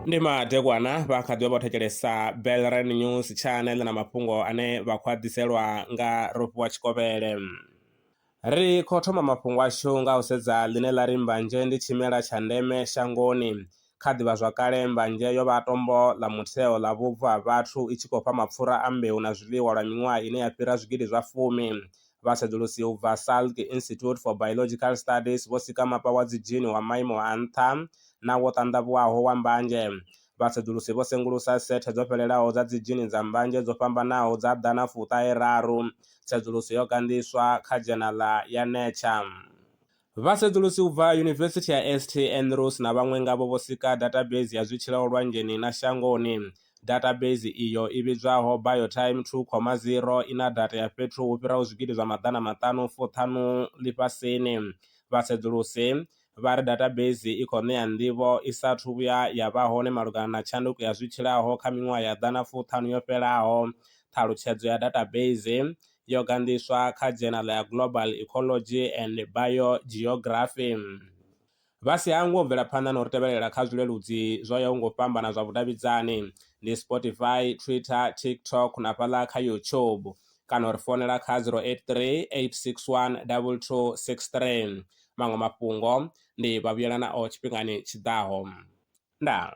ndi madekwana vha kha ḓi vha vho thetshelesa belran news channel na mafhungo ane vha khou a ḓiselwa nga rofhiwa tshikovhele ri khou thoma mafhungo ashu nga u sedza ḽine ḽa ri mbanzhe ndi tshimela tsha ndeme shangoni Kha ḓivhazwakale, mbanzhe yo vha tombo ḽa mutheo ḽa vhubvo ha vhathu, i tshi khou fha mapfura a mbeu na zwiḽiwa lwa miṅwaha ine ya fhira zwigidi zwa fumi. Vhasedzulusi u bva Salk Institute for Biological Studies vho sika mapa wa dzidzhini wa maimo a nṱha na wo ṱanḓavhuwaho wa mbanzhe. Vhasedzulusi vho sengulusa sethe dzo fhelelaho dza dzidzhini dza mbanzhe dzo fhambanaho dza ḓana fuṱahe raru. Tsedzuluso yo ganḓiswa kha dzhenala ya Nature. Vhasedzulusi u bva Yunivesithi ya St Andrews na vhaṅwe ngavho vho sika dathabeisi ya zwitshilao lwanzheni na shangoni. Dathabeisi iyo i vhidzwaho Biotime 2,0 i na data ya fhethu hu fhiraho zwigidi zwa maḓana maṱanu fu ṱhanu ḽifhasini. Vhasedzulusi vha ri dathabeisi i khou ṋea nḓivho i sa athu vhuya ya vha hone malugana na tshanduko ya zwitshilaho kha miṅwaha ya ḓana fu ṱhanu yo fhelaho. Ṱhalutshedzo ya dathabeisi yo ganḓiswa kha dzhenala ya Global Ecology and Biogeography. Vha si hangwe u bvela phanḓa na u ri tevhelela kha zwileludzi zwo yaho nga u fhambana zwa vhudavhidzani, ndi Spotify, Twitter, TikTok na fhaḽa kha YouTube, kana u ri founela kha 083 861 2263. Maṅwe mafhungo ndi Vhavhuyelanaho tshifhingani tshi ḓaho. Ndaa.